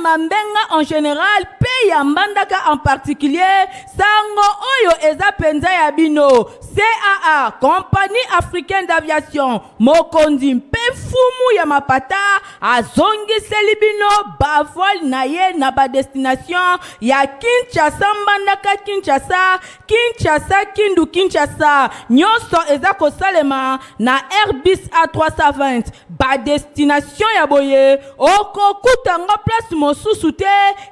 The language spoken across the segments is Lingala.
mambenga en général mpe ya mbandaka en particulier sango oyo eza mpenza ya bino caa compagnie africaine d'aviation Mokonzi mpe fumu ya mapata azongiseli bino bavole na ye na badestination ya Kinshasa, Mbandaka, Kinshasa, Kinshasa, Kindu, Kinshasa. Nyonso eza kosalema na Airbus A320. Badestination ya boye okokuta yango place mosusu te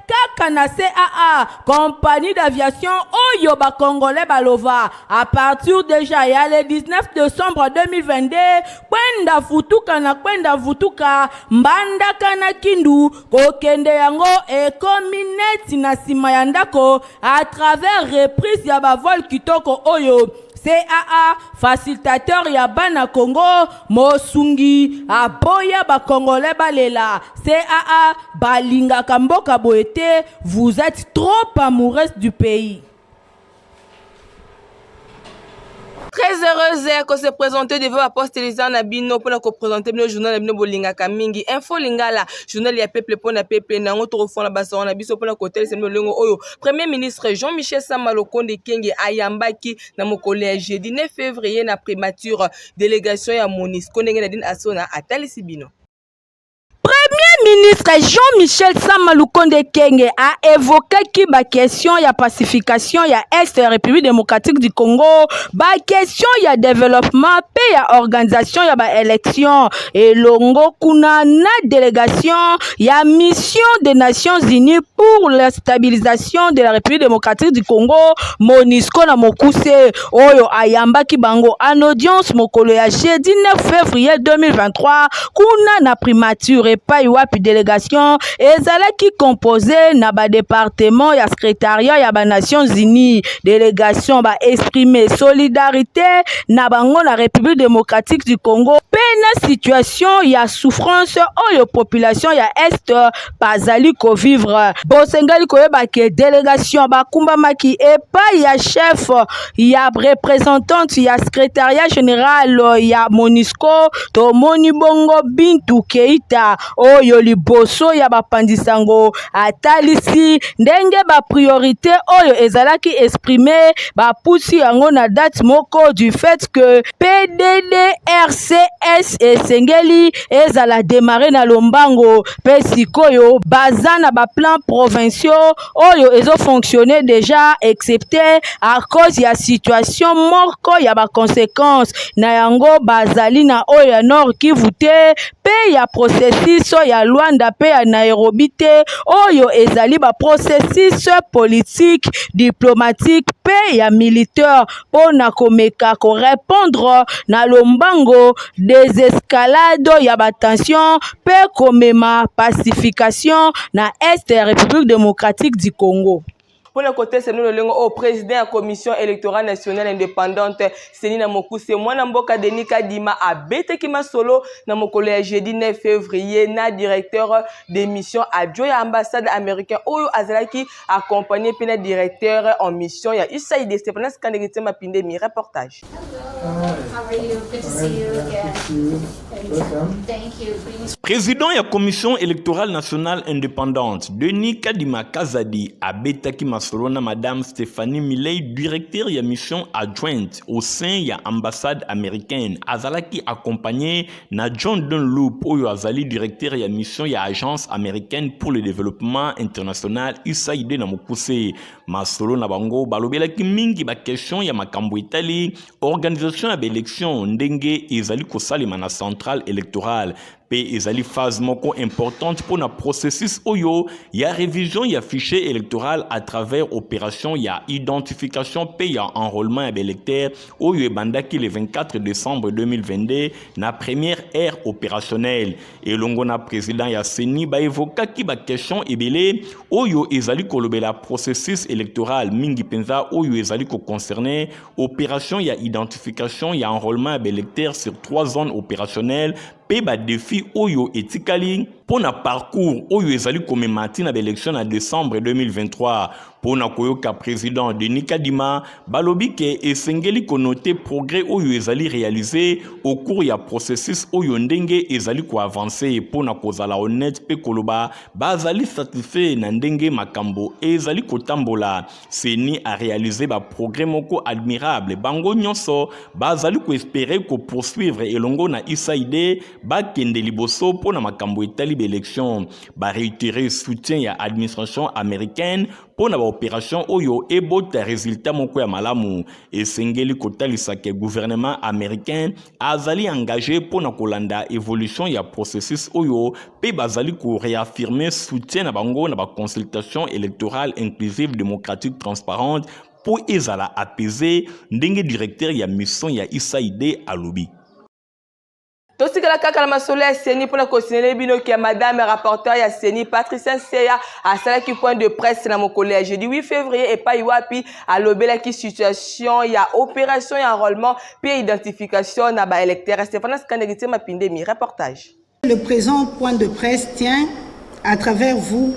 kaka na CAA, Compagnie d'aviation oyo ba Congolais balova. A partir deja ya le 19 decembre 2022 kwenda futuka na kwenda vutuka mbandaka na kindu kokende yango ekomi neti na nsima ya ndako à travers reprise ya bavole kitoko oyo caa facilitateur ya bana congo mosungi aboya bakongole balela caa balingaka mboka boye te vous êtes trop amoureuse du pays très heureuse ya ko se présenter devant baposte eza na bino mpona kopresente bino journal na bino bolingaka mingi info lingala journal ya peuple mpo na peuple na yango tokofona basongo na biso mpona kotalisa bino lolenge oyo premier ministre jean michel sama lokonde kenge ayambaki na mokolo ya jeudi 9 février na primature délégation ya monisco ndenge na dine asona atalisi bino Premier ministre Jean-Michel Sama Lukonde Kenge a évoquaki ba question ya pacification ya Est ya République démocratique du Congo, ba question ya développement pe ya organisation ya ba élections elongo kuna na délégation ya mission des Nations Unies pour la stabilisation de la République démocratique du Congo, MONUSCO na mokuse. oyo ayambaki bango en audience mokolo ya jeudi 9 février 2023 kuna na primature epai wapi delegation ezalaki compose na badepartement ya secrétariat ya banations unies delegation baexprime solidarité na bango na république démocratique du congo mpe na situation ya souffrance oyo population ya est bazali kovivre bosengeli koyeba ke delegation bakumbamaki epai ya chef ya representante ya secretariat general ya monisco tomoni bongo bintu keita oyo liboso ya bapanzi sango atalisi ndenge bapriorité oyo ezalaki exprime bapusi yango na date moko du fait que pddrcs esengeli ezala demarre na lombango mpe sikoyo baza na ba plans provinciaux oyo ezo fonctionner déjà excepte à cause ya situation moko ya ba conséquences na yango bazali na oyo ya Nord Kivu te mpe ya processus ya Luanda mpe ya Nairobi te oyo ezali ba processus politique diplomatique mpe ya militaire mpo na komeka ko repondre na lombango desescalade ya ba tensions mpe komema pacification na Est ya Republique democratique du Congo. mpo na kotesa bino lolenge oyo president ya commission electorale nationale independante seni na mokuse mwana mboka denis kadima abetaki masolo na mokolo ya jeudi 9 février na directeur de mission adjoint ya ambassade américain oyo azalaki accompagné mpe na directeur en mission ya usaid stepanas kandeke tiamba pindemi reportage Président ya commission électorale nationale indépendante, Denis Kadima Kazadi abetaki masolo na madame Stéphanie Milei, directeur ya mission adjointe au sein ya ambassade américaine. Azalaki accompagné na John Dunlop oyo azali directeur ya mission ya Agence américaine pour le développement international USAID na mokuse. Masolo na bango balobelaki mingi ba question ya makambo etali organisation ya baelection ndenge ezali kosalema na centrale électorale mpe ezali phase moko importante mpo na processus oyo ya révision ya fichier électoral à travers opération ya identification mpe ya enrôlement ya baelecteur oyo ebandaki le 24 décembre 2022 na première ère opérationnelle elongo na président ya ceni baevokaki baquestion ebele oyo ezali kolobela processus électoral mingi mpenza oyo ezali koconcerne opération ya identification ya enrôlement ya baelecteur sur trois zones opérationnelles mpe badefi oyo etikali mpo na parcours oyo ezali komema ntina na baelektio na decembre 2023 mpo na koyoka president denis kadima balobi ke esengeli konote progrès oyo ezali réalise au cours ya processus oyo ndenge ezali koavanse mpo na kozala honnête mpe koloba bazali satisfait na ndenge makambo ezali kotambola CENI a réalisé ba progrès moko admirable. Bango nyonso bazali ko espérer ko poursuivre elongo na USAID bakende liboso mpo na makambo etali ba élections. Ba réitérer soutien ya administration américaine mpo na ba opérations oyo ebota résultat moko ya malamu. Esengeli kotalisa que gouvernement américain azali engage mpo na kolanda evolution ya processus oyo mpe bazali koreaffirme soutien na bango na baconsultation électorale inclusive démocratique transparente mpo ezala apaise ndenge directeur ya mission ya usaid alobi totikala kaka na masolo ya seni mpo na kosinele bino ke madame rapporteur ya seni patricien seya asalaki point de presse na mokolo ya jeudi 8 février epai wapi alobelaki situation ya opération ya enrôlement Puis identification na ba électeurs Stephane Kandegi Tsema Pindemi reportage. Le présent point de presse tient à travers vous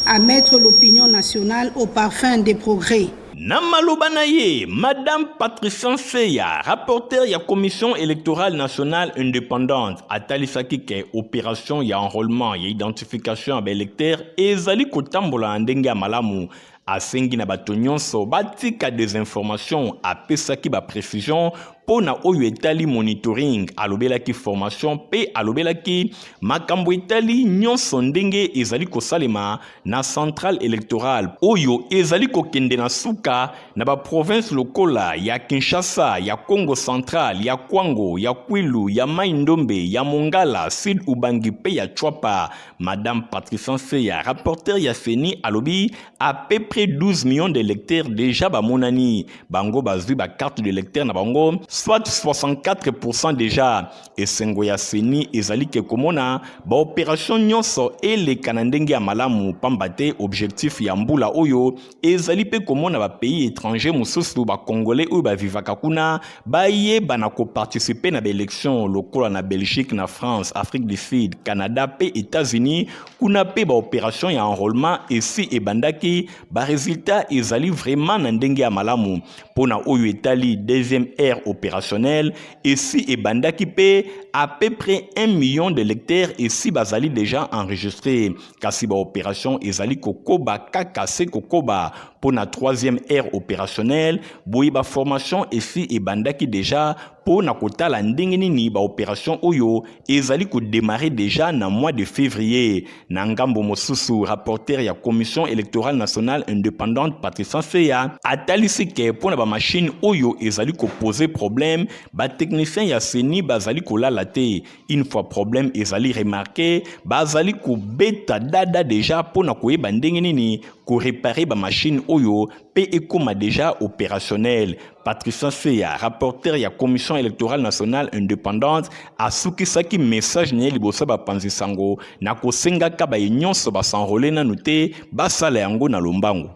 à mettre l'opinion nationale au parfum des progrès. Na maloba na ye, Madame Patricia Seya, rapporteur ya Commission électorale nationale indépendante, atalisaki ke operation ya enrôlement ya identification ya baelecteur ezali kotambola na ndenge ya malamu asengi na bato nyonso batika desinformation apesaki baprecision mpo na oyo etali monitoring alobelaki formation mpe alobelaki makambo etali nyonso ndenge ezali kosalema na centrale electorale oyo ezali kokende na suka na baprovince lokola ya kinshasa ya congo central ya kwango ya kwilu ya mai ndombe ya mongala sud ubangi mpe ya chwapa Madame Patricia Seya, rapporteur ya CENI, alobi à peu près 12 millions de lecteurs déjà bamonani. Bango bazui ba carte de lecteur na bango, soit 64% déjà. Esengo ya CENI ezali ke komona ba opération nyonso elekana ndenge ya malamu pamba te objectif ya mbula oyo ezali mpe komona bapays étranger mosusu bacongolais oyo bavivaka kuna bayebana koparticipe na baélection lokola na belgique na france afrique du sud canada mpe états-unis kuna mpe baopération ya enrôlement esi ebandaki baresultat ezali vraiment na ndenge ya malamu mpo na oyo etali deuxième aire opérationnelle esi ebandaki mpe à peu près 1 million de lecteurs esi bazali déjà enregistré kasi baoperation ezali kokoba kaka se kokoba mpo na troisième aire opérationnelle boye baformation esi ebandaki deja mpo na kotala ndenge nini baoperation oyo ezali kodemare deja na mois de février na ngambo mosusu rapporteur ya commission électorale nationale indépendante patricia seya atalisi ke mpo na bamashine oyo ezali kopose problème batechnicien ya seni bazali kolala te une fois problème ezali remarqué bazali kobeta dada deja mpo na koyeba ndenge nini korepare bamashine oyo mpe ekoma deja opérationnel patricien seya rapporteur ya commission électorale nationale indépendante asukisaki message na ye liboso ya bapanzi sango na kosengaka baye nyonso basenrole nanu te basala yango na lombango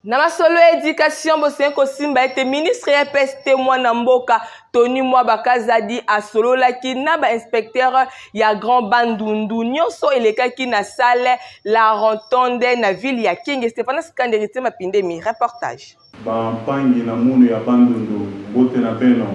Na masolo ya education bosengi kosimba ete ministre ya EPS te mwana mboka Tony Mwaba Kazadi asololaki na ba inspecteur ya Grand Bandundu nyonso elekaki na salle La Rentonde na ville ya Kenge. Stephanas Kanderite Mapindemi, reportage. Ba mpangi na munu ya Bandundu. Mbote na bino.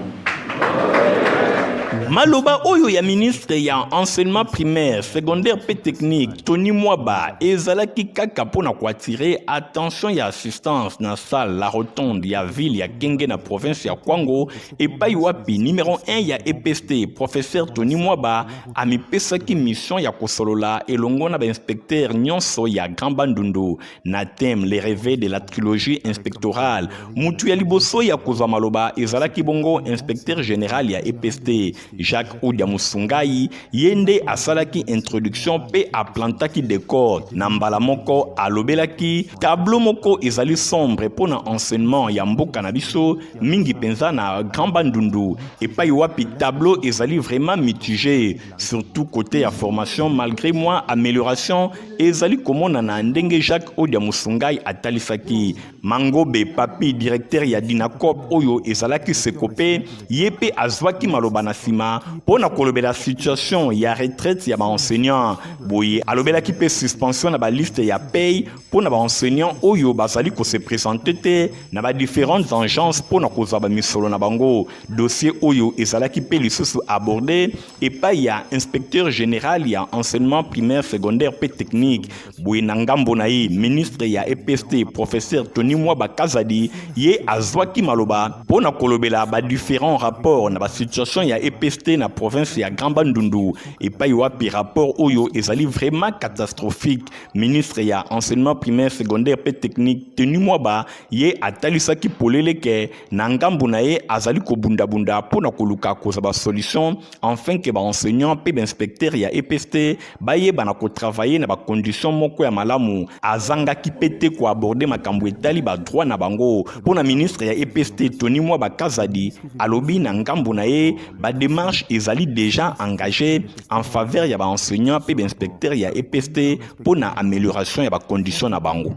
Maloba oyo ya ministre ya enseignement primaire, secondaire pe technique Tony Mwaba ezalaki kaka mpo na koatire attention ya assistance na salle la rotonde ya ville ya Genge na province ya Kwango epai wapi numero 1 ya EPST professeur Tony Mwaba amipesaki mission ya kosolola elongo na bainspecteur nyonso ya Grand Bandundu na thème le reve de la trilogie inspectorale mutu ya liboso ya kozwa maloba ezalaki bongo inspecteur général ya epst jacques odia musungai ye nde asalaki introduction mpe aplantaki decor na mbala moko alobelaki tableau moko ezali sombre mpo na enseignement ya mboka na biso mingi mpenza na grand bandundu epai wapi tableau ezali vraiment mitigé surtout côté ya formation malgré moi amélioration ezali komonana ndenge jacques odia mosungai atalisaki mangobe papi directeur ya dinacop oyo ezalaki sekope ye mpe azwaki maloba na nsima mpo na kolobela situation ya retraite ya baenseignant boye alobelaki mpe suspension na baliste ya pay mpo na baenseignant oyo bazali kose présente te na badifferentes engences mpo na kozwa bamisolo na bango Dossier Oyo ezalaki pe lisusu abordé epai ya inspecteur général ya enseignement primaire, secondaire pe technique. Boye na ngambo na ye, ministre ya EPST professeur Tony Mwaba Kazadi ye azwaki maloba mpo na kolobela ba différents rapports na ba situation ya EPST na province ya Grand Bandundu epai wapi rapport oyo ezali vraiment catastrophique. Ministre ya enseignement primaire, secondaire pe technique Tony Mwaba ye atalisaki polele ke na ngambo na ye azali kobundabunda mpo na koluka kozwa basolution enfin ke baenseignant mpe bainspecteur ya epst bayeba na kotravaille na bacondition moko ya malamu azangaki mpe te koaborde makambo etali badroit na bango mpo na ministre ya epst tony mwa bakazadi alobi na ngambo na ye bademarche ezali deja engage en faveur ya baenseignant mpe bainspecteur ya epst mpo na amélioration ya bacondition na bango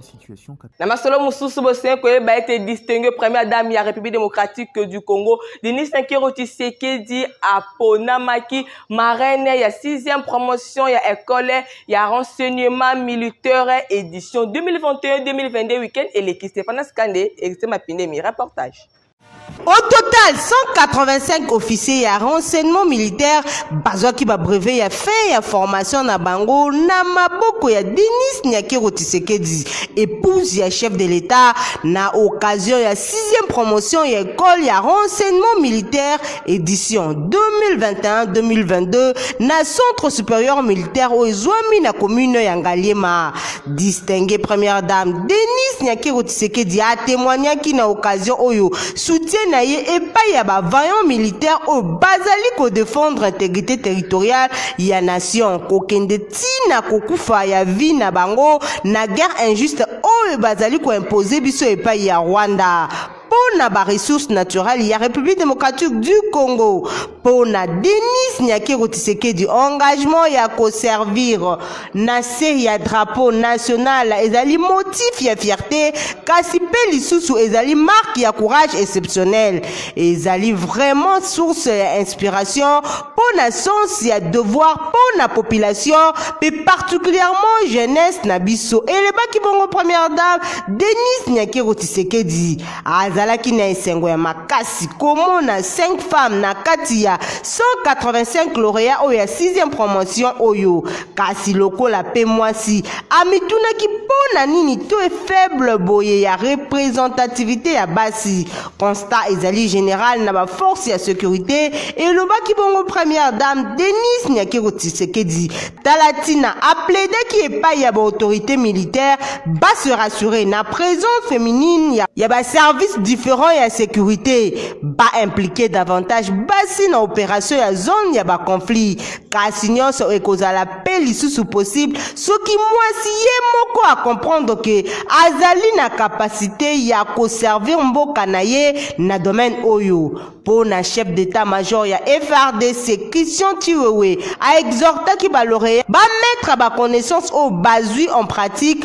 Na masolo mosusu bosengeli koyeba ete distingue première dame ya République démocratique du Congo Denise Nakero Tshisekedi aponamaki marraine ya 6e promotion ya école ya renseignement militaire édition 2021-2022 week-end eleki Stéphane Skande Eritier Mapindemi reportage Au total, 185 officiers ya renseignement militaire bazwaki ba brevet ya fin ya formation na bango na maboko ya Denis Nyakero Tshisekedi, épouse ya chef de l'État, na occasion ya 6e promotion ya école ya renseignement militaire édition 2021-2022 na centre supérieur militaire oyo ezwami na commune ya Ngaliema. Distingue première dame Denise Nyakero Tshisekedi a témoignaki na occasion oyo soutien na ye epai ya ba vaillants militaires oyo bazali ko défendre intégrité territoriale ya nation kokende ti na kokufa ya vie na bango na guerre injuste oyo bazali ko imposer biso epai ya Rwanda mpo na ba ressources naturelles ya République démocratique du Congo mpo na Denis Nyakeru Tshisekedi engagement ya ko servir na se ya drapeau national ezali motif ya fierté kasi mpe lisusu ezali marque ya courage exceptionnel ezali vraiment source ya inspiration mpo na sens ya devoir mpo na population mpe particulièrement jeunesse na biso, elebaki bongo Première dame Denise Nyakero Tshisekedi. Azalaki na esengo ya makasi komona 5 femmes na kati ya 185 laureats oyo ya 6e promotion oyo, kasi lokola mpe mwasi, amitunaki mpo na nini taux faible boye ya representativite ya basi. Constat ezali general na ba force ya securite, elobaki bongo première dame Denise Nyakero Tshisekedi. Tala tina a plaidaki epai ya ba autorites militaires ba se rassurer na presence feminine ya, ya ba services differents ya securite, ba impliquer davantage basi na operation ya zone ya ba conflits, kasi nionso ekozala pe lisusu possible soki mwasi ye moko a comprendre que azali na capacite ya ko servir mboka na ye na domaine oyo po na chef d'etat major ya FRDC Christian Chiwewe a exhortaki ba laureats ba mettre ba connaissances oyo bazwi en pratique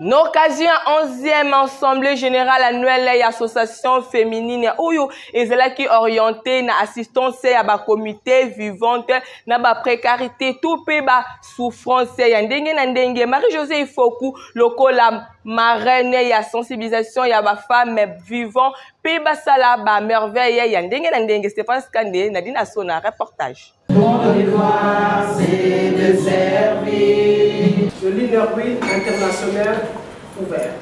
n'occasion ya 11e assemblée générale annuelle ya association féminine oyo ezalaki orienté na assistance ya bacomité vivante na baprécarité to mpe basouffrance ya ndenge na ndenge marie josé ifoku lokola marraine ya sensibilisation ya bafemme vivant mpe basala bamerveille ya ndenge na ndenge stéphane skande nadine asona reportage Mon devoir c'est de servir. Le leader oui international ouvert.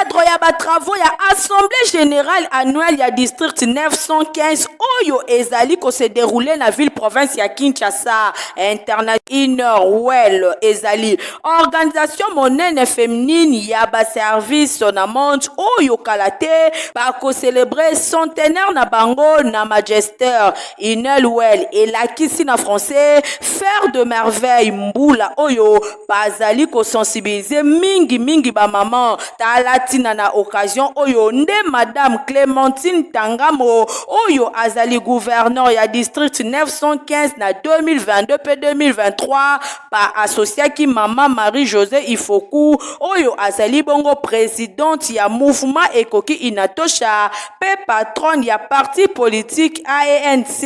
cadre ya ba travaux ya assemblée générale annuelle ya district 915 oyo ezali ko se dérouler na ville province ya Kinshasa international inner well ezali Organisation monene feminine ya ba service na monde oyo kala te ba ko celebre centenaire na bango na Magester Inelwel elakisi na français Faire de merveille mbula oyo bazali ko sensibiliser mingi mingi ba maman tala tina na occasion oyo nde madame Clementine Tangamo oyo azali gouverneur ya district 915 na 2022 pe 2023 ba associaki mama Marie Jose Ifoku oyo azali bongo presidente ya Mouvement Ekoki Inatosha mpe patronne ya parti politique ANC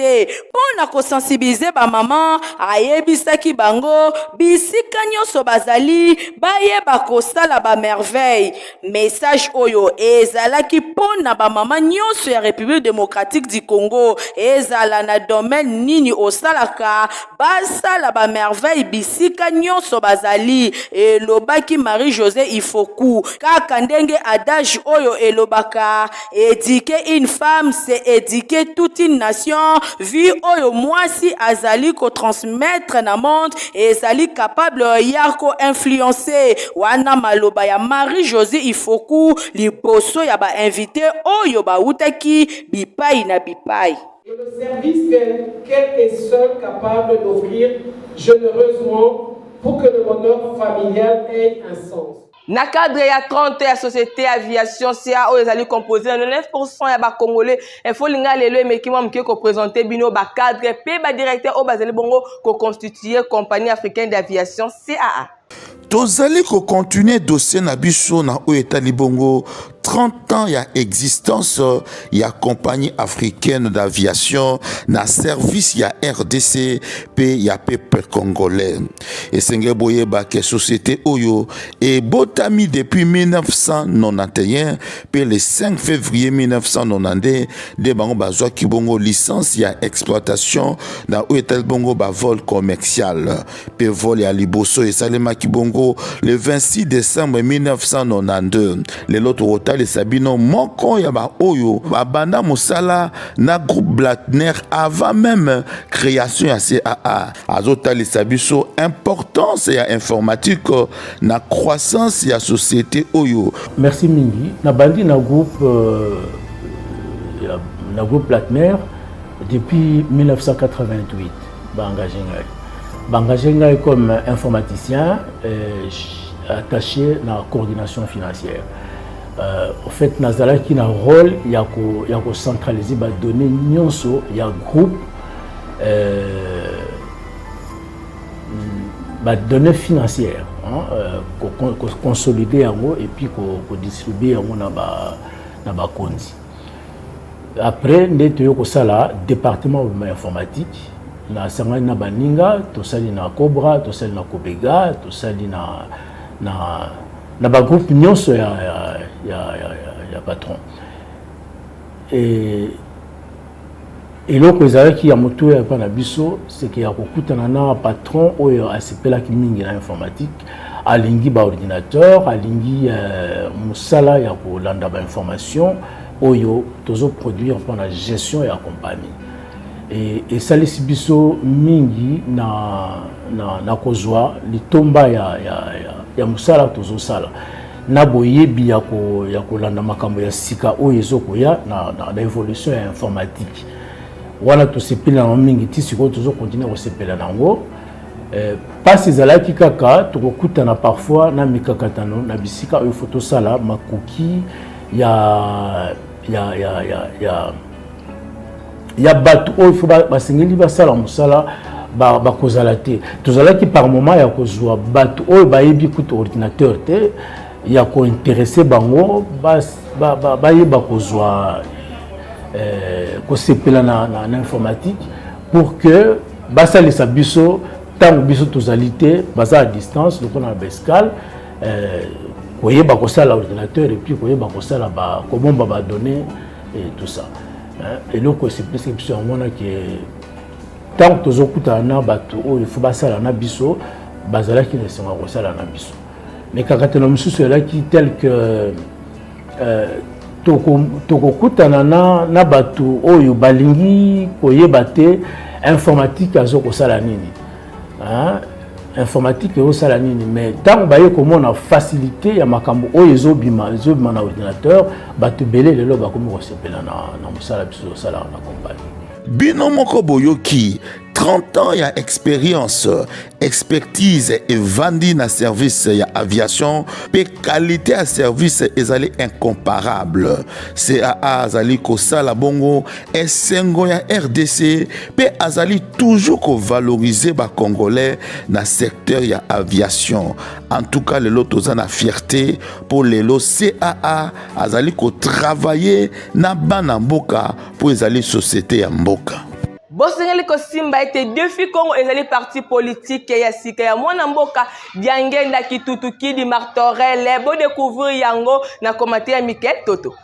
mpo na ko sensibiliser ba mama, ayebisaki bango bisika nionso bazali bayeba kosala ba merveilles. Message oyo ezalaki mpo na bamama nyonso ya République démocratique du Congo, ezala na domaine nini osalaka, basala ba merveille bisika nyonso bazali, elobaki Marie-Josee Ifoku. Kaka ndenge adage oyo elobaka, Eduquer une femme c'est eduquer toute une nation vu oyo mwasi azali ko transmettre na monde ezali capable ya ko influencer wana maloba ya Marie Josee Ifoku liboso ya ba invites oyo bawutaki bipayi na bipayi. Et le service que qu'elle est seule capable d'offrir genereusement pour que le bonheur familial ait un sens. na cadre ya 30 ya société aviation ca oyo ezali compose na 99 ya bacongolais efo linga lelo emeki mwa moke kopresente bino bacadre mpe badirecteur oyo bazali bongo koconstitue compagnie africaine d'aviation caa tozali kokontinue dossier na biso na oyo etali bongo 30 ans ya existence euh, ya compagnie africaine d'aviation na service ya rdc mpe ya peuple congolais esenge boyeba ke société oyo ebotami depuis 1991 mpe le 5 février 1992 nde bango bazwaki bongo licence ya exploitation na oyo etali bongo bavol commercial mpe vol ya liboso esalemaki bongo le 26 decembre 1992 lelo tokotalisa bino moko ya baoyo babanda mosala na groupe blatner avant meme création ya caa azotalisa biso importance ya informatique na croissance ya société oyo merci mingi nabandi na groupe euh, na groupe blatner depuis 1988 Ba engagé ngai. Ba engagé ngai comme informaticien euh, attaché na coordination financière. Euh, au fait nazalaki na rôle ya ko ya ko centraliser ba données nyonso ya groupe euh, ba données financières hein, euh, ko, ko, ko consolider yango et puis ko, ko distribuer yango na ba na bakonzi Après nde toye kosala departement ya informatique nasangani na baninga tosali na Cobra tosali na Cobega tosali na na na ba groupe nyonso ya ya ya, ya, ya, ya patron et Eloko ezalaki ya motuya epai na biso seke ya kokutana na patron oyo asepelaki mingi na informatique, alingi ba ordinateur, alingi euh, mosala ya kolanda ba information oyo tozo produire mpo na gestion ya compagnie e, esalisi biso mingi na, na, na kozwa litomba ya, ya, ya, ya mosala tozosala na boyebi ya kolanda makambo ya sika oyo ezokoya na, na, na evolution ya informatique wana tosepeli na yango mingi ti sikoyo tozokontinue kosepela na yango eh, mpasi ezalaki kaka tokokutana parfois na mikakatano na bisika oyo fo tosala makoki ya, ya, ya, ya, ya ya bato oyo fo basengeli basala mosala bakozala ba te tozalaki par moment ya kozwa bato oyo bayebi kutu ordinateur te ya kointeresse bango bayeba ba, ba, ba kozwa eh, kosepela na, na, na informatique pour que basalisa biso ntango biso tozali te baza à distance lokola na baescale eh, koyeba kosala ordinateur epuis koyeba kosala kobomba badonnée ba et tout ça eloko esepelisi biso yango wana ke ntango tozokutana na bato oyo fo basala na biso bazalaki na esengo ya kosala na biso mikakatano mosusu elaki tel que euh, tokokutana na, na bato oyo balingi koyeba te informatique azo kosala nini ah, informatique eosala nini mais ntango baye komona facilité ya makambo oyo ezobima ezobima na ordinateur bato ebele lelo bakomi kosepela na, na mosala biso tosalaka na kompani bino moko boyoki 30 ans ya expérience expertise evandi na service ya aviation mpe kalite ya service ezali incomparable caa azali kosala bongo esengo ya rdc mpe azali toujours kovalorize bacongolais na secteur ya aviation en tout cas lelo toza na fierté mpo lelo caa azali kotravaille na bana mboka mpo ezali société ya mboka bosengeli kosimba ete defi congo ezali parti politike ya sika ya mwana mboka diangenda kitutu kidi martorele bodecouvrir yango na komate ya mikel toto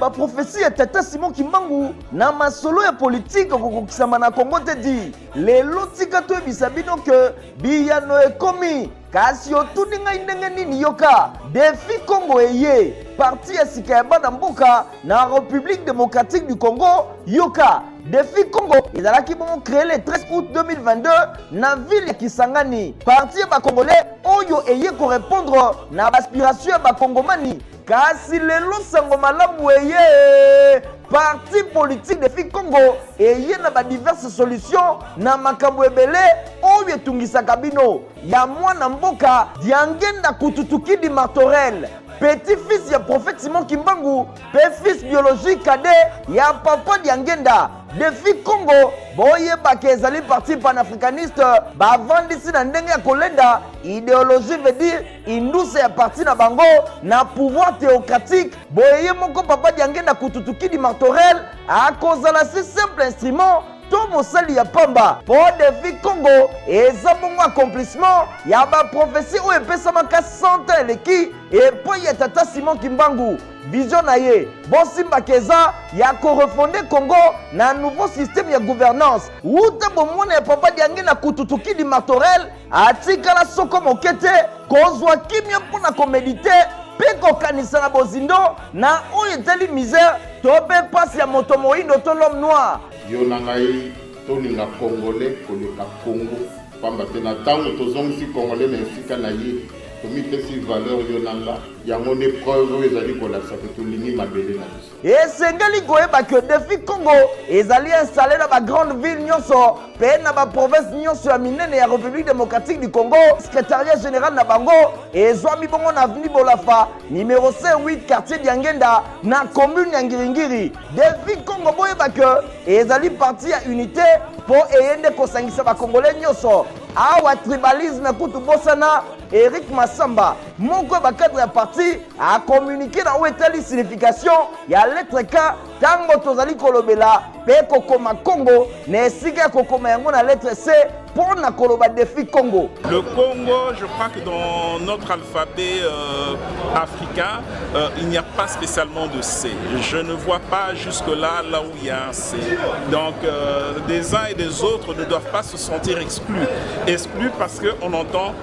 ba prophetie ya tata Simon Kimbangu na masolo ya politique kokokisama na Congo te di lelo tika toyebisa bino ke biyano ekomi kasi otuni ngai ndenge nini yoka defi Congo eye parti ya sika ya bana mboka na République démocratique du Congo yoka Defi Congo ezalaki bongo cree le 13 août 2022 na ville ya Kisangani. Parti ya bakongolais oyo eye korepondre na baaspiration ya bakongomani kasi lelo sango malamu eye parti politique defi congo eye na badiverse solution na makambo ebele oyo etungisaka bino ya mwana mboka diangenda kututukidi martorel petit fils ya prophète simon kimbangu mpe fils biologique cadet ya papa diangenda defi congo boyebaka ezali parti panafricaniste bavandisi na ndenge ya kolenda ideologie veut dire induse ya parti na bango na pouvoir théocratique boye ye moko papa diangenda kututukidi martorel akozala si simple instrument to mosali ya pamba mpo defi congo eza bongo accomplissement ya baprofesi oyo epesamaka 100 eleki epai ya tata simon kimbangu Vision na ye bosimba ke eza ya ko refonder Congo na nouveau système ya gouvernance. Wuta bomwana ya Papa Diangi na Kututukidi Martorel atikala soko moke te kozwa kimia mpo na komedite mpe kokanisa na bozindo na oyo etali misère to mpe mpasi ya moto moindo to l'homme noir. Yo na ngai tolinga Congolais koleka Congo pamba te na ntango tozongisi Congolais na esika na ye tomipesi valeur yo na nga yango nde preuve oyo ezali kolakisa ke tolingi mabele na biso esengeli koyeba ke defi congo ezali installe na bagrande ville nyonso mpe na baprovince nyonso ya minene ya république démocratique du congo secrétariat général na bango ezwami bongo na aveni bolafa numero 58 quartier diangenda na commune ya ngiringiri defi congo boyeba ke ezali parti ya unité mpo eye nde kosangisa bakongole nyonso awa tribalisme kutu bosana eric masamba Moko ya bakadre ya parti akomunike na oyo etali signification ya lettre K ntango tozali kolobela mpe kokoma Congo na esika ya kokoma yango na lettre C mpo na koloba defi Congo. Le Congo, je crois que dans notre alphabet euh, africain, euh, il n'y a pas spécialement de C. Je ne vois pas jusque-là là où il y a un C. Donc euh, des uns et des autres ne doivent pas se sentir exclus. Exclus parce qu'on entend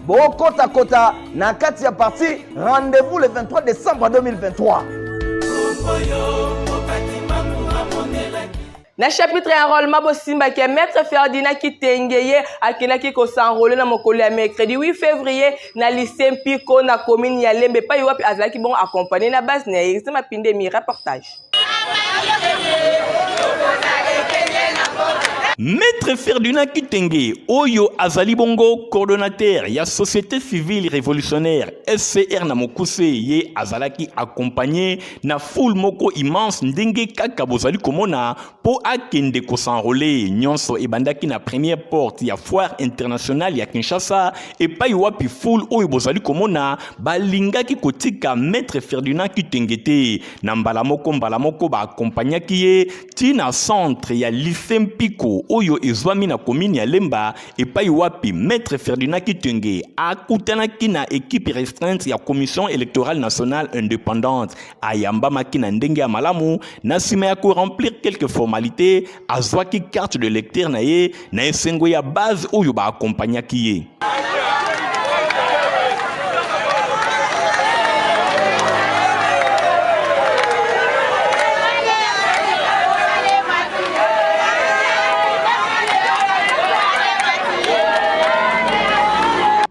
bokota kota na kati ya parti rendez-vous le 23 décembre 2023 na chapitre ya enrôlement bosimbaki ya maître ferdina kitenge ye akendaki kosenrole na mokolo ya mercredi 8 février na lycée mpiko na commune ya lembe epai wapi azalaki bongo accompagne na base na ye ese mapinde mi reportage Maître Ferdinand Kitenge, oyo azali bongo coordonnateur ya société civile révolutionnaire SCR na mokuse ye azalaki accompagné na foule moko immense ndenge kaka bozali komona Mpo akende kosanrole, nyonso ebandaki na première porte ya foire internationale ya Kinshasa, epai wapi foule oyo bozali komona balingaki kotika Maître Ferdinand Kitenge te. Na mbala moko mbala moko baakompagnaki ye ti na centre ya lycée Mpiko oyo ezwami na commune ya Lemba, epai wapi Maître Ferdinand Kitenge akutanaki na equipe restreinte ya Commission électorale nationale indépendante, ayambamaki na ndenge ya malamu na nsima ya koremplir quelque formalite azwaki carte de lecteur na ye na esengo ya base oyo baakompagnaki ye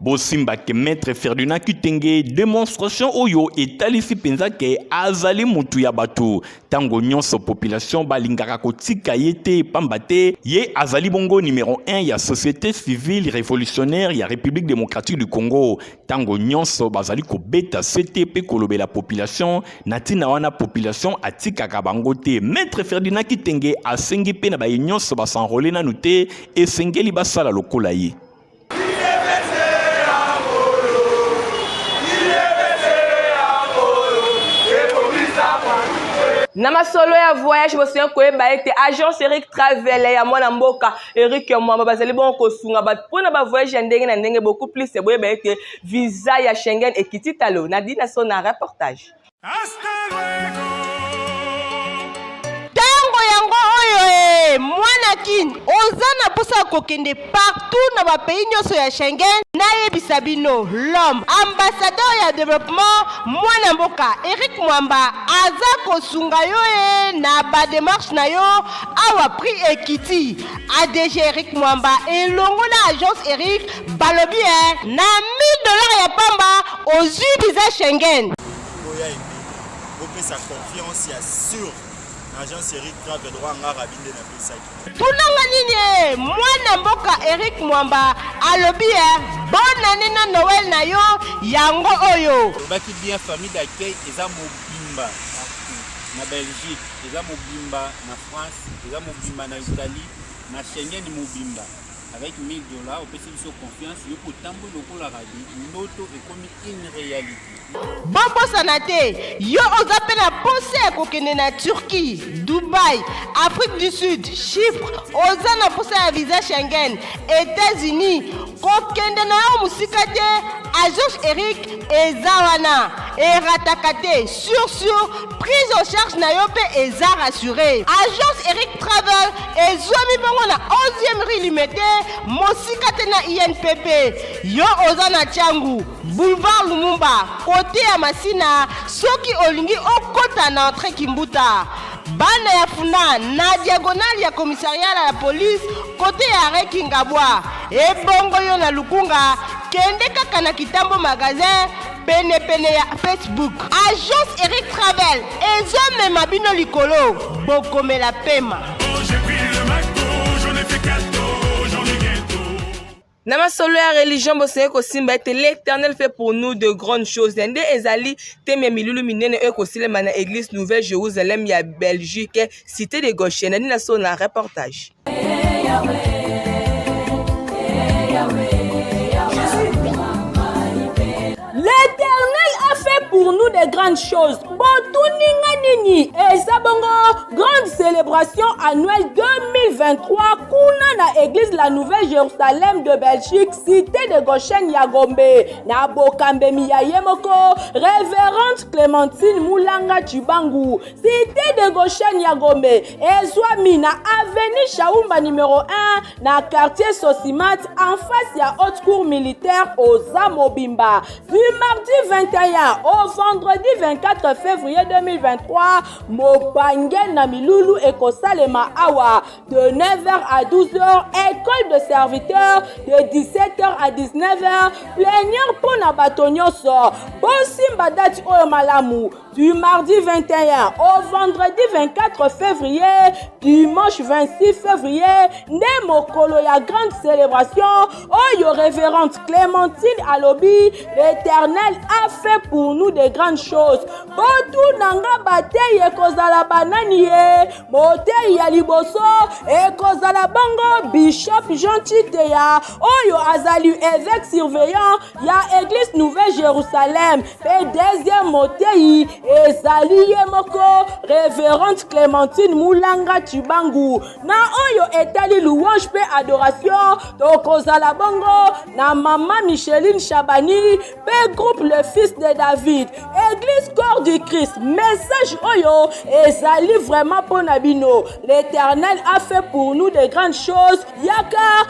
bosimba que maître Ferdinand Kitenge démonstration oyo etalisi penza ke azali mutu ya batu tango nyonso population balingaka kotika ye te pamba te ye azali bongo numéro 1 ya société civile révolutionnaire ya République démocratique du Congo tango nyonso bazali kobeta sete pe kolobela population na tina wana population atikaka bango te maître Ferdinand Kitenge asengi pe na baye nyonso basanrole nanu te esengeli basala lokola ye na masolo ya voyage bosengi koyeba ete agence eric travel ya mwana mboka eric mwamba bazali bongo kosunga bato mpo na bavoyage ya ndenge na ndenge beaucoup plus boyeba ete visa ya schengen ekiti talo na dinaso na reportage Tango yango oyo ee! Mwana Kin, oza na posa ya kokende partout na ba pays nionso ya Schengen. Nayebisa bino, l'homme, ambassadeur ya developpement, mwana mboka Eric Mwamba aza kosunga yo ee na ba demarches na yo awa prix ekiti. ADG Eric Mwamba elongo na Agence Eric Balobi eh, na 1000 dollars ya pamba ozui visa Schengen. Boya ebele, bopesa confiance ya sur na Jean Eric Travel Roi Ngara binde na pesaki. Tunanga nini eh, mwana mboka Eric Mwamba alobi eh, bonne année na Noël na yo yango oyo. Olobaki bien famille d'accueil eza mobimba na Belgique, eza mobimba na France, eza mobimba na Italie, na Schengen mobimba. avec 1000 dollars opesi biso confiance yo mpe otamboli lokola rabi ndoto ekomi une réalité bobosana te yo oza mpe na mposa ya kokende na turquie dubai afrique du sud chypre oza na mposa ya visa schengen états-unis kokende na yo mosika te agence eric eza wana erataka te sur sur Prise en charge na yo mpe eza rassure. Agence Eric Travel ezwami bongo na 11e rue Limete, mosika te na INPP. Yo oza na Tshangu, boulevard Lumumba, kote ya Masina, soki olingi okota na entre Kimbuta. Bana ya Funa na diagonale ya commissariat ya police kote ya arrêt Kingabwa. Ebongo yo na Lukunga, kende kaka na Kitambo magasin pene pene ya Facebook. Agence Eric Travel ezo mema bino likolo bokomela pema. na masolo ya religion bosengeli kosimba ete l'éternel fait pour nous de grandes choses na nde ezali teme ya milulu minene oyo ekosilema na église nouvelle jérusalem ya belgique cité de gauche na nini na solo na reportage L'Éternel a fait pour nous des grandes choses. Botuni nga nini? Eza bongo grande célébration annuelle 2023 kuna na église la Nouvelle Jérusalem de Belgique, cité de Goshen ya Gombe. Na bokambemi ya ye moko Révérende Clémentine Mulanga Tshibangu. Cité de Goshen ya Gombe ezwami na avenue Shaumba numero 1 na quartier Sosimat en face ya haute cour militaire oza mobimba. Du mardi 21 au vendredi 24 février 2023 mopange na milulu ekosalema awa de 9h à 12h école de serviteur de 17h à 19h plenière mpo na bato nyonso bosimba dati oyo malamu du mardi 21 au vendredi 24 février, dimanche 26 février, nde mokolo ya grande célébration oyo révérende Clémentine Alobi, l'Éternel a fait pour nous de grandes choses. Botuna nga bateyi ekozala banani ye, moteyi ya liboso ekozala bongo Bishop Jean Chiteya oyo azali évêque surveillant ya eglise nouvelle jerusalem mpe deuxième moteyi ezali ye moko reverente clémentine mulanga cibangu na oyo etali louange mpe adoration tokozala bongo na mama micheline shabani mpe groupe le fils de david eglise corps du christ message oyo ezali vraiment mpo na bino l'éternel a fait pour nous de grandes choses yaka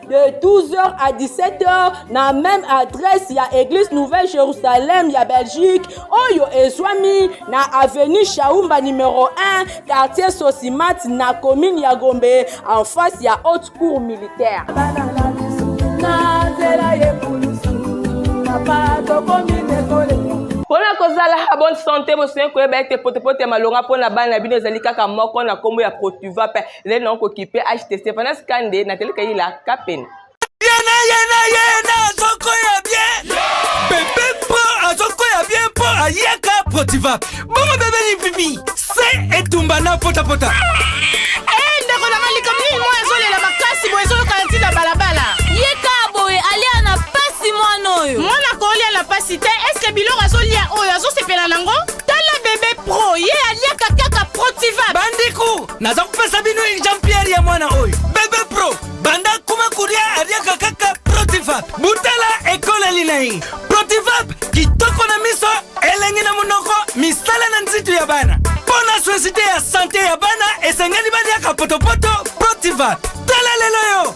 de 12h à 17h na même adresse ya église nouvelle jérusalem ya belgique oyo ezwami na avenue shaumba numero 1 quartier sosimati na commune ya gombe en face ya haute cour militaire mpo na kozala bonne sante bosengi koyeba ete potopoto ya malonga mpo na bana na bino ezali kaka moko na nkombo ya protuva mpe ezali nango kokipe ht stefanas kande na tele kayila kapene yena yena yena azoko ya bien bebe mpo azoko ya bien mpo ayaka protiva bongo bebe lipipi se etumba na potapota eh, ndeko na malikam nini moi ezolela makasi boye ezoyokana ntina balabala yeka boye alia na pasi mwana oyo mwana kolia na pasi te eske biloko azolia oyo azosepela nango tala bebe pro ye aliaka kaka protiva bandeko naza kopesa bino exemplaire ya mwana oyo bebe pro banda kuma kuria ariaka kaka protivap butala ekoleli na ye protivap kitoko na miso elengi na monoko misala na nzito ya bana mpo na societe ya sante ya bana esengeli baliaka potopoto protivap tala lelo yo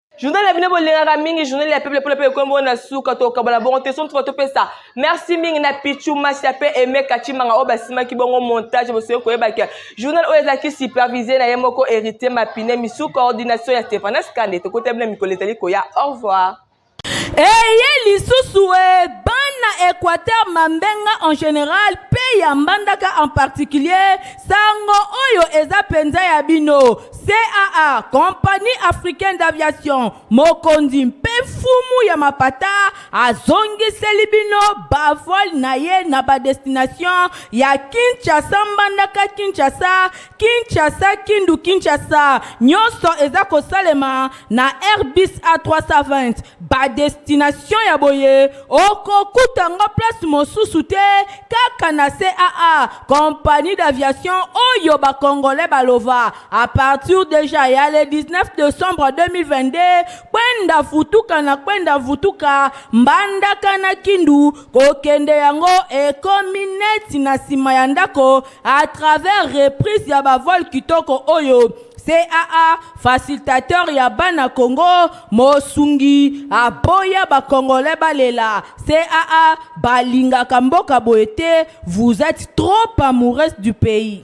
journal ya bino bolingaka mingi journal ya peuple mpona mpe ekomi bongo na suka tokabola bongo te somo tuka topesa merci mingi na pichu masia mpe aime kachimanga oyo basimaki bongo montage bosoki koyebaka journal oyo ezalaki supervise na ye moko héritier mapine misu coordination ya stéphanas kande tokota bino mikolo ezali koya au revoir eye lisusu e bana équateur mambenga en général mpe ya mbandaka en particulier sango oyo eza mpenza ya bino CAA, Compagnie Africaine d'Aviation, mokonzi mpe mfumu ya mapata azongiseli bino bavole na ye na badestination ya Kinshasa, Mbandaka, Kinshasa, Kinshasa, Kindu, Kinshasa. Nyonso eza kosalema na airbus a320 badestination ya boye okokuta yango place mosusu te kaka na caa compagnie d'aviation oyo bacongolais balova a partir deja ya le 19 decembre 2022 kwenda futuka na kwenda vutuka mbandaka na kindu kokende yango ekomi neti na nsima ya ndako à travers reprise ya bavole kitoko oyo CAA, facilitateur ya bana Congo, mosungi aboya ba congolais balela. CAA, balingaka mboka boye te, vous êtes trop amoureux du pays.